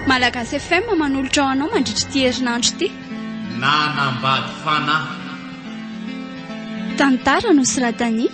Malagasy FM manolotra ho anao mandritra ity herinandro ity. Nanambady fanahy. Tantara nosoratan'i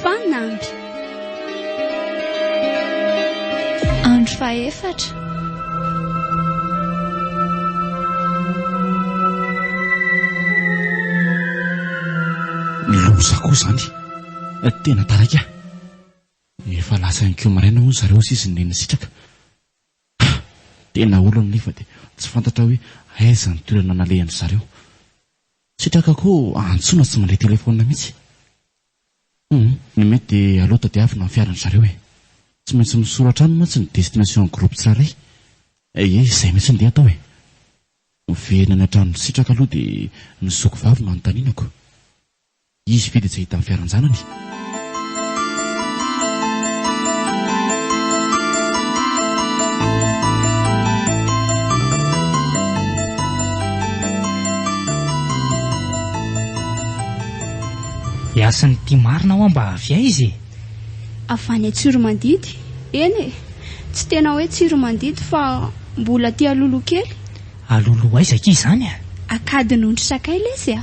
Fanamby. Andro fahefatra. Loza koa izany. Tena taraiky aho. Efa lasa ihany koa maraina hono zareo hoy izy neny sitraka. Ha! Tena olana nefa dia tsy fantatra hoe aiza ny toerana nalehan-dry zareo. Sitraka koa antsoina tsy mandray telefaonina mihitsy. Humm, ny mety dia aleo tadiavina ny fiaran-dry zareo e! Tsy maintsy misoratra any mantsy ny destination groupe tsirairay. Ehe, izay mihitsy ndeha atao e! Miverina any an-tranon'i Sitraka aloha dia ny zoky vavy no anontanianako. Izy ve dia tsy hahita ny fiaran-janany? Dia hasin'ny tia marina hoa mba avy aiza e? Avy any Tsiromandidy. Eny e! Tsy tena hoe Tsiromandidy fa mbola aty Alolo kely. Alolo aiza akia izany a? Ankadinondry Sakay lesy a!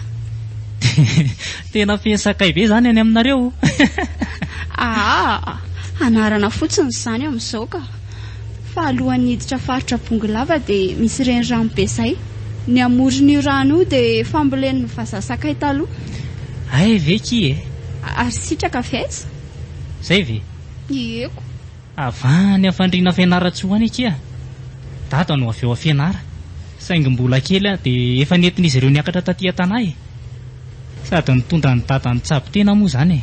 Tena feno sakay be izany any aminareo? Aa! Anarana fotsiny izany amin'izao ka! fa alohan'ny hiditra faritra Bongolava dia misy renirano be izay. Ny amoron'io rano io dia fambolen'ny vazaha sakay taloha. Hay ve akia e! Ary sitraka avy aiza? Izay ve? Ie ko! Avy any Afandriana Fianarantsoa any akia. Dada no avy ao Fianara, saingy mbola kely aho dia efa nentin'izy ireo niakatra taty an-tanà e! Sady nitondra an'i Dada nitsabo tena moa izany e!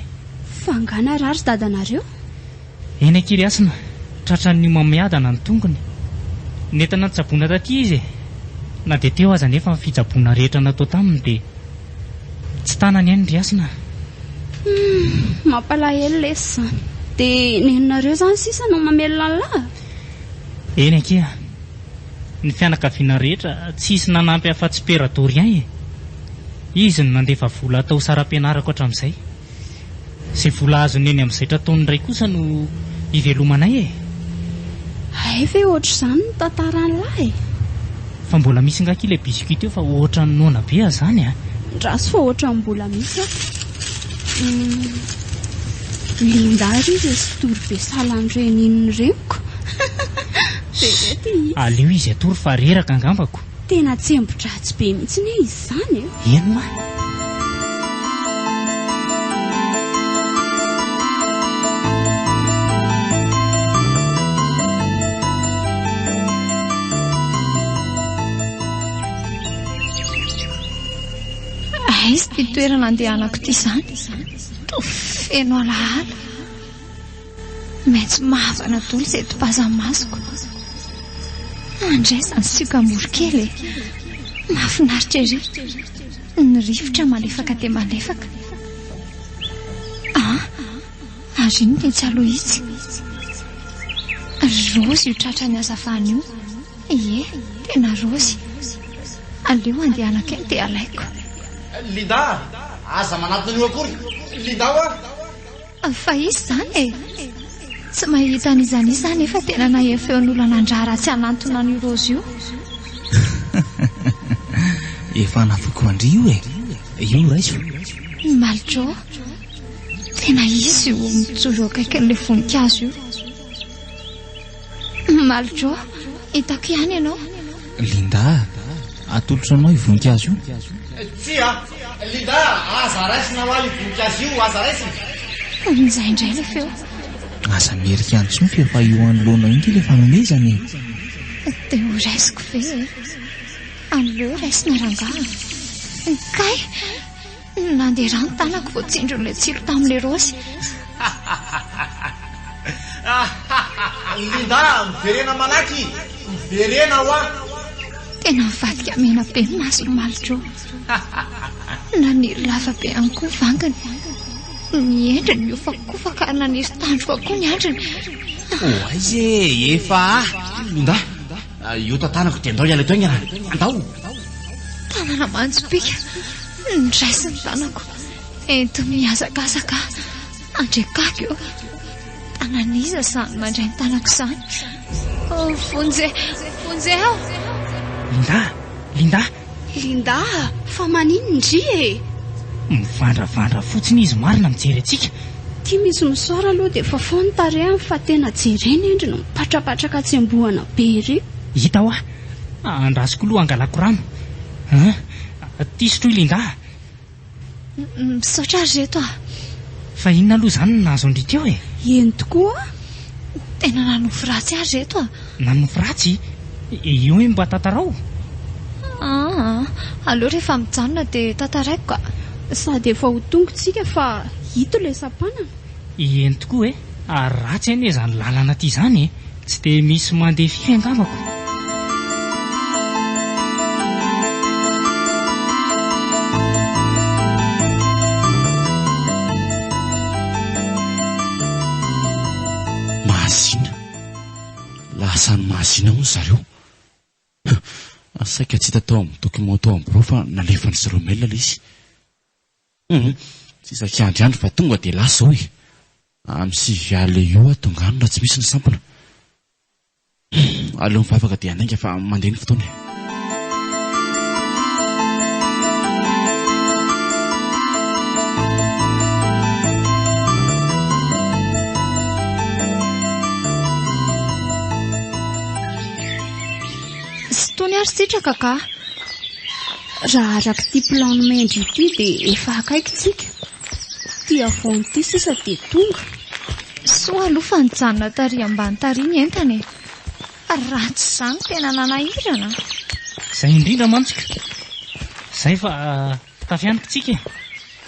Fa angaha narary dadanareo? Eny Ankirihasina, tratran'ny homamiadana ny tongony. Nentana nitsaboana taty izy e! Na dia teo aza anefa ny fitsaboana rehetra natao taminy dia tsy tanany eny Rihasina. Humm, mampalahelo lesy izany. Dia nenonareo izany sisa no mamelona an'lah? Eny akia. Ny fianakaviana rehetra tsisy nanampy afa-tsy Père Dorian e! Izy no nandefa vola atao saram-pianarako hatramin'izay. Izay vola azony eny amin'ny zaitra ataon'ny Ray kosa no hivelomanay e! Hay ve ohatr'izany ny tantaran'lah e! Fa mbola misy ngaky ilay biscuit teo fa ohatran'ny noana be ah zany ah! Ndraso fa ohatran'ny mbola misy ah! Linda ry izay sitory be salan'ny renin'ny reniko! Be be ity! Aleo izy hatory fa reraka angambako! Tena tsembo-dratsy be mihitsy anie izany e! Eny ma! Aiza ity toerana andehanako ity izany? Toa feno alaala. Maitso mavana dolo izay topazan'ny masoko. Andraisana ny sioka moro kely e. Mahafinaritra ery. Ny rivotra malefaka dia malefaka. Ah, ary inona etsy aloha itsy? Ry raozy io tratran'ny hazavana io. Ie, tena raozy. Aleo andehanako eny dia alaiko. Linda, aza manatona an'io akory. Linda o! Fa hisy izany e! Tsy mahita an'izany hisy aho nefa tena nahia feo ny olona nandraha ratsy hanantona an'io Rozy io. Efa nafiko an-dry io e! Io raiso. I Maljo. Tena hisy io mijoro eo akaikin'ilay voninkazo io. Mamaly Joe, hitako ihany ianao. Linda, atolotro anao io voninkazo io? Tsia, Linda, aza raisina hoa io voninkazo io, aza raisina. Amin'izay indray ilay feo. Aza merika intsony fa efa eo anoloanao eo ity ilay fanomezana e. Dia ho raisiko ve e? Aleo raisina rangaha. Kay! Nandeha rà ny tanako vao tsindrin'ilay tsilo tamin'ilay raosy. Linda, miverena malaky! Miverena hoa! Tena mivadika mena be ny mason'i Maljo. Naniry lava be ihany koa ny vangany. Ny endriny miofakofaka ary naniry tandroka koa ny andriny. Ho aiza e, efa ah! Linda! Ah, io tantanako dia ndao hiala eto aingana. Andao! Tanana manjopiaka, ndraisin'ny tanako. Ento mihazakazaka, andriakako eo. Tanan'iza izany mandray ny tanako izany? Oh, vonjeo, vonjeo! Linda, Linda, Linda a! Fa manin ndry e! Mivandravandra fotsiny izy marina mijery antsika. Ity misy misaora aloha dia efa fohy ny tarehiny fa tena jerena endry no mipatrapatraka atsembohana be ery. Hita hoa! Andrasiko loha hangalako rano. An! Tisotro i Linda a! Misaotra ry reto a! Fa inona aloha izany no nahazo an-dry Teo e? Eny tokoa a! Tena nanofy ratsy ahy ry reto a! Nanofy ratsy? Eo hoe mba tantarao? Aa! Aleo rehefa mijanona dia tantaraiko ka! Sady efa ho tonga isika fa ito ilay sampanana. Eny tokoa e! Ary ratsy anie izany lalana aty izany e! Tsy dia misy mandeha firy angambako. Mahazina. Lasa any Mahazina hono zareo. Saika tsy hita tao amin'ny documents tao amin'ny birao fa nalefan'izy ireo mail ilay izy. Tsy isaky andry andry fa tonga dia lasa hoy. Amin'ny sivy alina eo ho eo aho tonga any raha tsy misy ny sampona. Aleo mivavaka dia handainga fa mandeha ny fotoana e. Tsy tony ary sitraka kah. Raha arak'ity plan mendry ity dia efa akaiky tsika. Ity havoana ity sisa dia tonga. Soa aloha fa nijanona tary ambany tary ny entana e. Raha tsy izany tena nanahirana. Izay indrindra mantsy ka. Izay fa tafy any tsika e.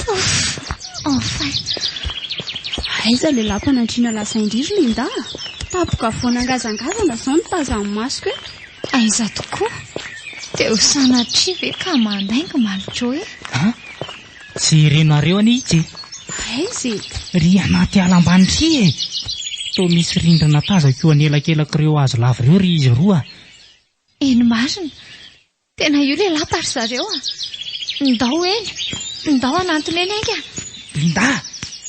Ouf! Enfin! Aiza ilay lapa nandriana lasa indrisy ny indahy a! Tapoka vao nangazangazana izao no tazan'ny masoko e! Aiza tokoa? Dia ho sanatria ve ka mandainga Malico e? An! Tsy renareo anie itsy e! Aiza e? Ry anaty ala ambany ry e! Toa misy rindrina tazako eo anelakelak'ireo hazo lava ireo ry izy roa a! Eny marina! Tena io ilay lapa ry zareo a! Ndao eny! Ndao hanantona eny enga! Linda!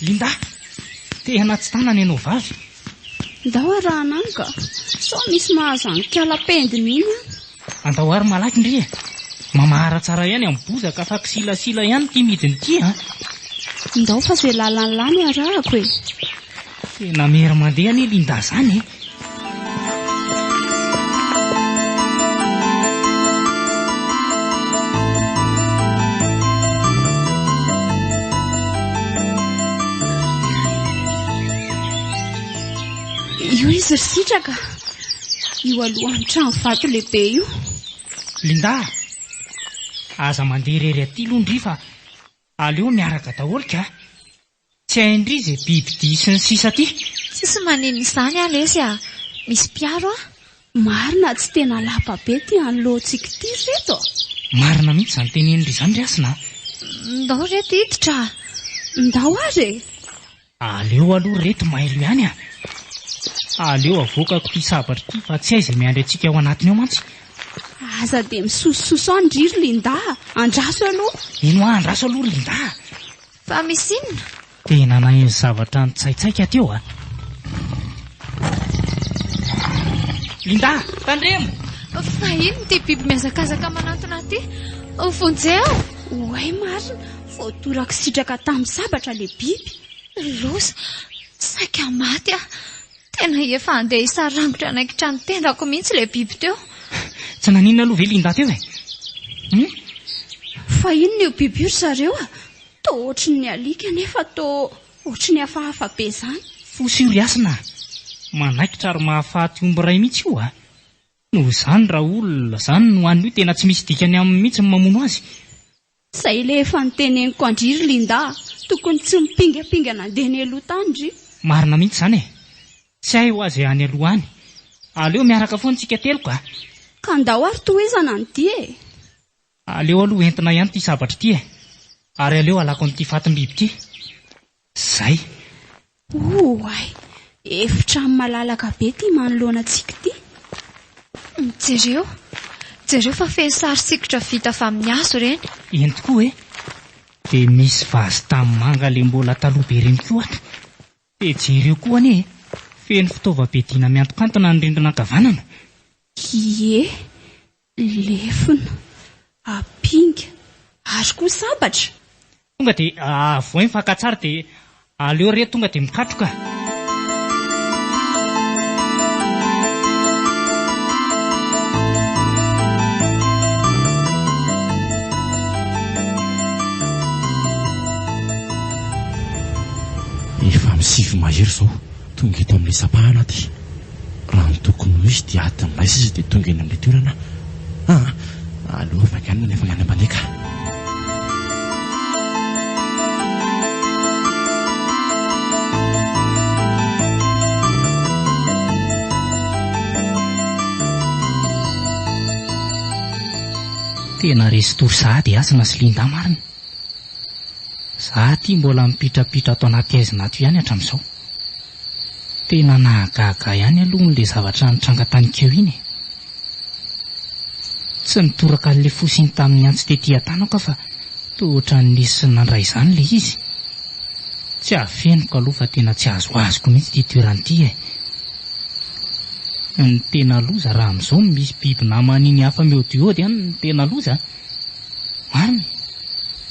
Linda! Te hanatsy tanana ianao vavy! Ndao ary Rahananga! Sao misy mahazo an'ikala pendiny iny an! Andao ary malaky ndry e! Mamahara tsara ihany amin'ny bozaka fa kisilasila ihany ity midina ity an! Ndao fa izay lalan'ny lany arahako e! Tena miery mandeha anie Linda izany e! Io izy ry sitraka. Io alohan'ny trano vato lehibe io. Linda, aza mandeha irery aty aloha ndry fa aleo miaraka daholo ka. Tsy hain-dry ze biby dia sy ny sisa ty. Tsisy manin izany ah lesy ah. Misy mpiaro ah. Marina tsy tena lapa be ty an lotsiko ty ry reto a. Marina mihitsy izany tenenin-dry izany ry hasina a. Ndao reto hiditra a. Ndao ary e. Aleo aloha ry reto mailo ihany a. Aleo avoakako ity sabatra ity fa tsy hay izay miandry antsika ao anatiny ao mantsy. Aza dia misosososo an-dry ry Linda a. Andraso aloha. Eny hoa andraso aloha ry Linda a. Fa misy inona? Tena naheno zavatra nitsaitsaika teo a! Linda! Tandremo! Fa inona ity biby mihazakazaka manantona ity? Vonjeo! Oay marina, voatoraka sitraka tamin'ny sabatra ilay biby. Loza! Saika maty aho. Tena efa handeha hisarangotra hanaikitra ny tenako mihitsy ilay biby teo. Tsy naninona aloha ve Linda teo e? Hum? Fa inona io biby io ry zareo a? Toa ohatry ny alika nefa toa ohatry ny hafahafa be izany. Fosa io ry Hasina a! Manaikitra ary mahafaty omby iray mihitsy io a! Noho izany raha olona izany no hanina io tena tsy misy dikany aminy mihitsy ny mamono azy. Zay le efa niteneniko andry ry Linda a! Tokony tsy mipingapinga nandeha nialoha tany ry. Marina mihitsy zany e! Tsy hay hoa zay any aloha any! Aleo miaraka foana tsika telo ka! Ka ndao ary tohizana ny dia e! Aleo aloha entina ihany ty sabatra ty e! Ary aleo alako an'ity fatim-biby ty! Zay! Oay! Efitrano malalaka be ity manoloana antsika ity. Jereo! Jereo fa feno sary sikotra vita avy amin'ny hazo ireny. Eny tokoa e! Dia misy vazy tanimanga le mbola taloha be ireny koa ato. Dia jereo koa anie e! Feno fitaovam-piadiana miantokantona ny rindrina ankavanana. Ie! Lefona, apinga, ary koa sabatra. Tonga dia avohay ny fakantsary dia aleo re tonga dia mikatroka. Efa amin'ny sivy mahery izao. Tonga eto amin'ilay sampahana aty raha ny tokony ho izy dia adiny iray sisa dia tonga eny amin'ilay toerana aho an! Aleo avy haingana ny hafaingan'ny mpandeha ka! Tena resy tory sahady i Hasina sy Linda marina. Za aty mbola mipitrapitra ato anaty aizina ato ihany hatram'izao. Tena nahagaga ihany aloha hono le zavatra nitranga tany Keo iny e. Tsy nitoraka an'le fosiny tamin'ny antsy tety Iatana aho ka fa toa ohatran'ny nisy nandray izany le izy. Tsy afeniko aloha fa tena tsy azoazoko mihitsy ity toerana ity e. Ny tena loza raha amin'izao misy biby naman'iny hafa miodiody any ny tena loza a. Marina,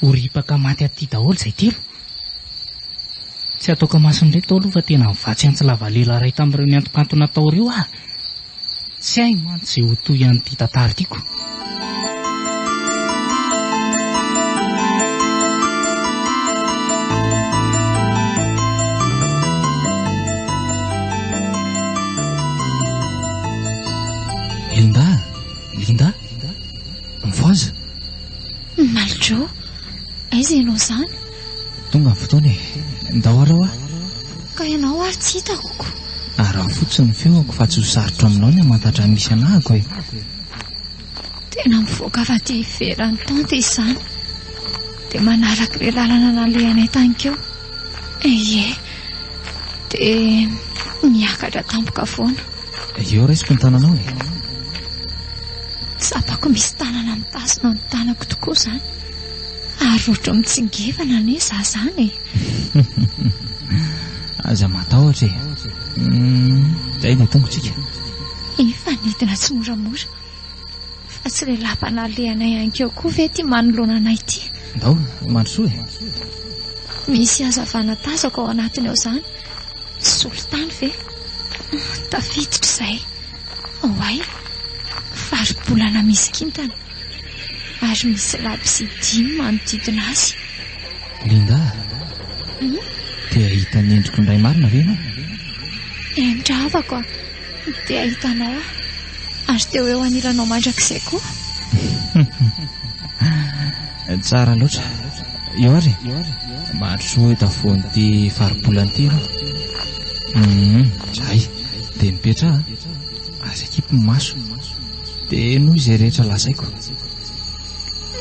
ho ripaka maty aty daholo izay telo. Tsy ataoko amason'ireto aloha fa tena nivatsy antsy lavalela iray tamin'ireo niantonkantona taori'io aho. Tsy hay mantsy izay ho toy an'ity tantara itiako. Linda, Linda. Mivoaza. Maljo, aiza ianao izany? Tonga ny fotoana e. Ndao arao aho. Ka ianao ary tsy hitako ko. Araho fotsiny ny feoko fa tsy ho sarotra aminao ny hamantatra ny misy anahako e. Tena mivoaka avy aty ivelan'ny tente izany. Dia manaraka ilay lalana nalehanay tany keo. Eye, Dia miakatra tampoka foana. Eo resiko ny tananao e. Tsapako misy tanana mitazona ny tanako tokoa izany. Ary ohatry ny mitsingevana anie za izany e. Aza matahotra e. Izay dia tongotsika. Efa nidina tsimoramora. Fa tsy ilay lapa nalehanay hankeo koa ve ity manoloana anay ity? Ndao, mandrosoa e! Misy hazavana tazako ao anatiny ao izany. Solitany ve? Tafiditra izay. Oay, faribolana misy kintana. Ary misy labozia dimy manodidina azy. Linda, hmm? te hahita ny endriko indray marina ve ianao? Henitra havako aho. Te hahita anao aho ary te ho eo anilanao mandrakizay koa. Tsara loatra. Io ary mahatry soa eto afovoan'ity faribolana ity ianao. Hum, zay dia mipetraha ary akipy ny maso dia henoy izay rehetra lazaiko.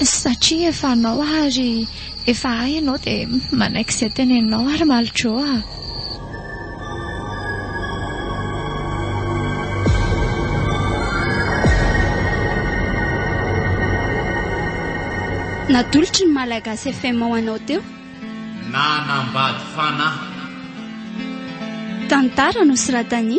Satria efa anao ary efa ahy ianao dia manaiky izay teneninao ary Maljo a. Natolotry ny Malagasy FM ho anao teo. Nanambady fanahy. Tantara nosoratan'i.